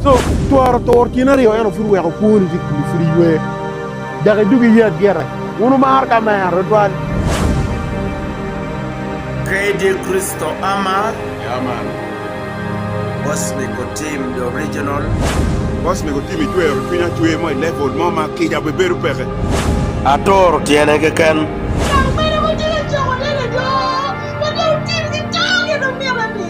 So twaro tur kin aryo eno pud weko kwoni tye kulu pud iywe dok idug iye agita. Wun wumaro ka mero tutwal. Grade e Kristo ama. Yeah man. Boss mego Tim the original. Boss mego Tim icwero cwinya cwer mo i level mo ma kica be bedo peke. Atoro tyene keken. Gang mene ma tye ka coko neno jo ma dong tim ki to gin omyero ati.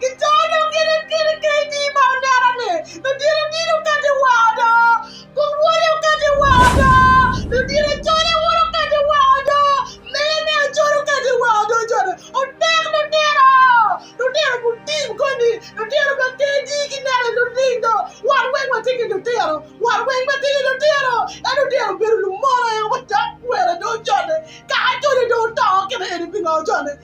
Gicoro dong gin en kene kec-ci ma onera-ni, ludito odilo okato i wa odo, buk wode okato i wa odo, ludito acole wun okato i wa odo, mele me acol okato i wa odo cone. Otek lutino! Lutino gutim koni, lutino ma kec-ci gineno i luting do, wan weng watye ki lutino, wan weng watye ki lutino, ento lutino obedo lumono aye wadakwene do cone, kara cone dong oto kene eni pingo cone?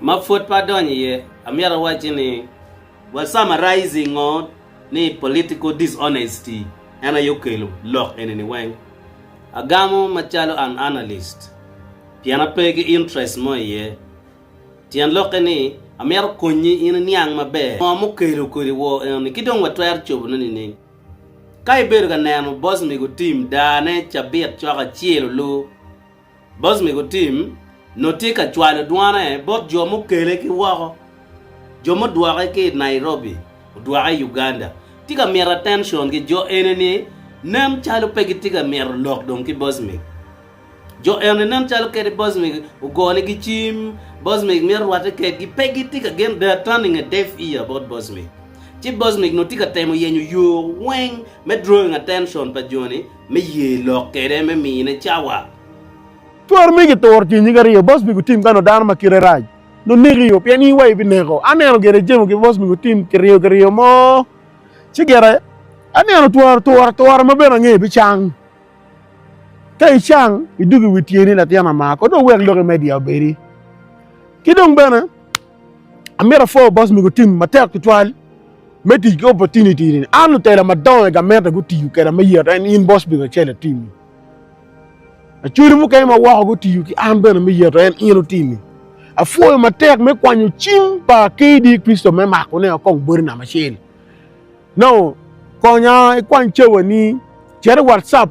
Ma pud pe adonyo iye, amyero awacci ni wa summarizing ngo ni political dishonesty en aye okelo lok eni ni weng. Agamo macalo an analyst pien ape ki interest mo iye. Tyen lokke ni amyero konyi in iniang maber ngo mukelo kodi wor eno ni ki dong wa twero cobo ne nining. Ka ibedo ka neno boss mego Tim daa ne cabit cok acel olu, Bocmego tim nongo tye ka cwalo dwane bot jo mukele ki woko, jo mudwoke ki i Nairobi odwoke i Uganda. Tye ka mito attention ki jo eni ni nen calo pe gitye ka mito lok dong ki Bocmego. Jo eni nen calo kadi Bocmego ogonigi cim, Bocmego mito rwatte kedgi, pe gitye ka gen, they are turning a deaf ear about Bocmego. Ci Bocmego nongo tye ka temo yenyo yo weng me drawing attention pa jo-ni me ye lok kede me mine cawa. Twar mege turo tye nyig ariyo, boss mego tim kano dano ma kite rac no neki yo pien in wa ibineko, aneno gire jemo ki boss mego tim kiriyo kiriyo mo ci gire aneno twar twar twar ma bene angeyo bicang ka icang idug iwi tyeni latin amako do wek lok imedia obedi ki dong bene. Amito apwo bot mego tim matek tutwal me tic ki opportunity ni. An lutela madongo i gamente gutiyo keda me yet en in bot mego acel atimi. Acwali mukene ma woko gutiyo ki an bene me yet en in otimi. Afwoyo matek me kwanyo cim pa KD Kristo me mako ne okong bodi nama acel. No, konya ikwany cawani, cere WhatsApp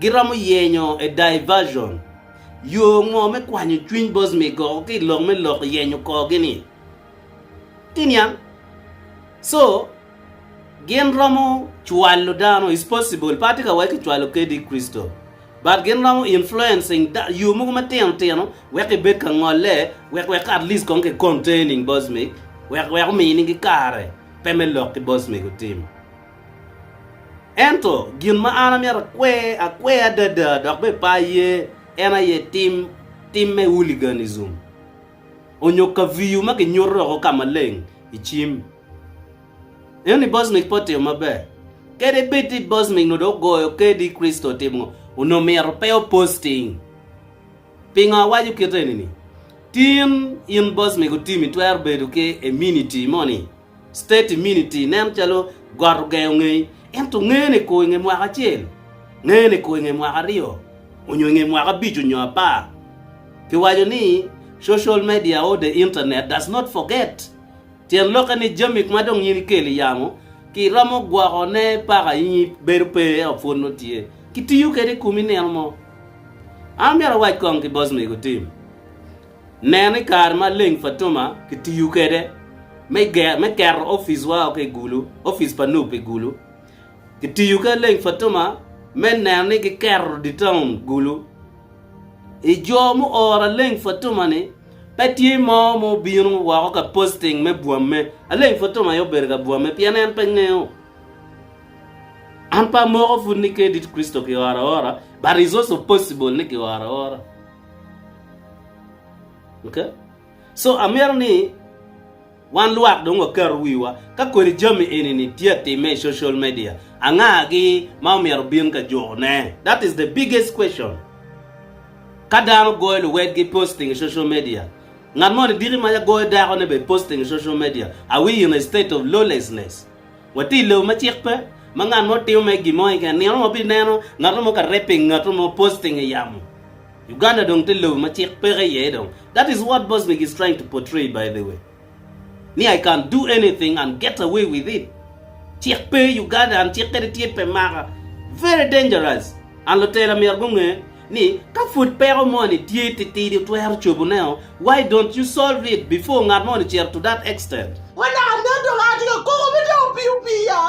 Giromo yenyo a diversion, yo ngo me kwanyo cwiny Bosmi go ki i lok me lok yenyo kor gi ni ki niang. So gin romo cwalo dano, it's possible, pe atye ka waci ki cwalo kdi Crystal, but gin romo influencing da, yo mogo ma tino tino wek ki bed ka ngole, wek wek at least kong ki containing Bosmi, wek wek omini gi kare pe me lok ki Bosmi gutim. Ento gin ma an amyero akwe akwe adada dok bene pe aye en aye tim, tim me hooliganism, onyo kaviyu ma kinyuto oko ka maleng i cim. Ineno ni Bosmik pe otimo maber. Kadi bed ni Bosmik nongo dong ogoyo kedi Kricito otimo ngo, onongo myero pe o posting. Pingo awaco kit eni-ni? Tin in Bosmik otim itwero bedo ki immunity moni? State immunity nen calo got ogengo ngei, ento ngeye ni kor inge mwaka acel, ngeye ni kor inge mwaka aryo, onyo inge mwaka abic onyo apar. Kiwaco ni, Social media or the internet does not forget. Tyen lokke ni jami ma dong in ikelo iyamo, ki iromo gwoko ne paka in ibedo pe ento pwod nongo tye. Kitiyo kede i komi nino mo. An amyero awac kong ki boss mego Tim. Nen ni kare ma leng Fatuma kitiyo kwede me keto opic wa ki i Gulu, opic pa Nup i Gulu. Kitiyo ki leng Fatuma me neno ni giketo di taun Gulu. I jo muoro leng Fatuma ni, pe tye mo ma obino woko ka posting me bwamme. Aleng Fatuma aye obedo ka bwamme pien en pe ngeyo. An pe amoko pud ni Kedi Kristo kioro aora but is also possible ni kioro aora. Okay? So amito ni wan lwak dong waket wiwa ka kodi jami eni ni tye atimme i social media, anga gi ma omyero bin ka juko ne? That is the biggest question. Ka dano goyo luwedgi posting i social media, ngat mo ni diki mac agoyo dako ne bene posting i social media, are we in a state of lawlessness? Watye i lobo ma cik pe, ma ngat mo timo mere gin mo keken. Nino mo wabineno ngat mo ka rapping ngat mo, posting i yamo. Uganda dong tye lobo ma cik peke iye dong. That is what Bosnic is trying to portray by the way. Ni I can do anything and get away with it. Cik pe Uganda and cik kadi tye pe maka. Very dangerous and lutela myero gunge. ni ka pud peko moni tye titidi otwero cobuneo, why don't you solve it before ngat moni cito to that extent? Wa dok anen dong atye ka koko me dong opiyo piya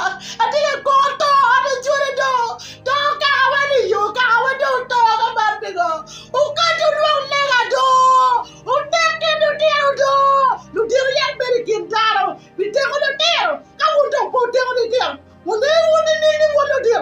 atye ka koko to an acwale dong to kaka wan i yo kaka wan dong oto ka man pingo okati olwong lega doo onek ki lutino doo ludito yat bedo i kin dano pi teko lutino ka wun dong pe oteko litino wungeyo wun nining ni wun ludito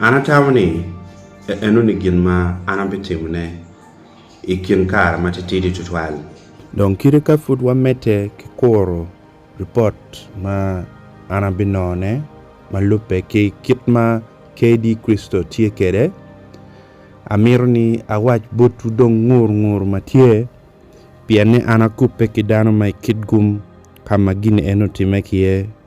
An atamo ni enoni gin ma an abitimone i kin kare matitidi tutwal. Dong kite ka pud wamedde ki kuro ripot ma an abinonone ma lubbe ki kit ma KD. Crystal tye kwede, amito ni awac botwu dong ngur ngur ma tye, pien ni an akubbe ki dano ma i kit gum ka ma gin eni otimme ki iye.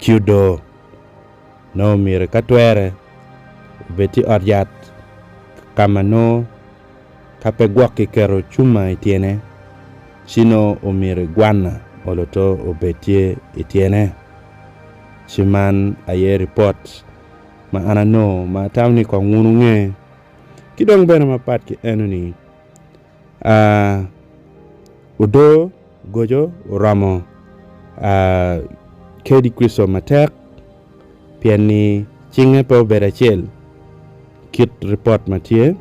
ci odoo. Nongo myero ka twere obed tye i ot yat ka ma nongo ka pe gwok kiketo cuma i tyene ci nongo omyero igwanna olo to obed tye i tyene. Ci man aye ripot ma an anongo ma atamo ni kong wun wunge. Ki dong bene mapat ki enoni, Aa, odoo goco oromo. Aa, kadi Kricito matek, pien ni cinge pe obedo acel kit ripot ma tye.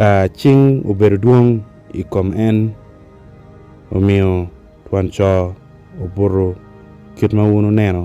Aa, cing obedo dwong i kom en, omiyo twon co obuto kit ma wun wuneno.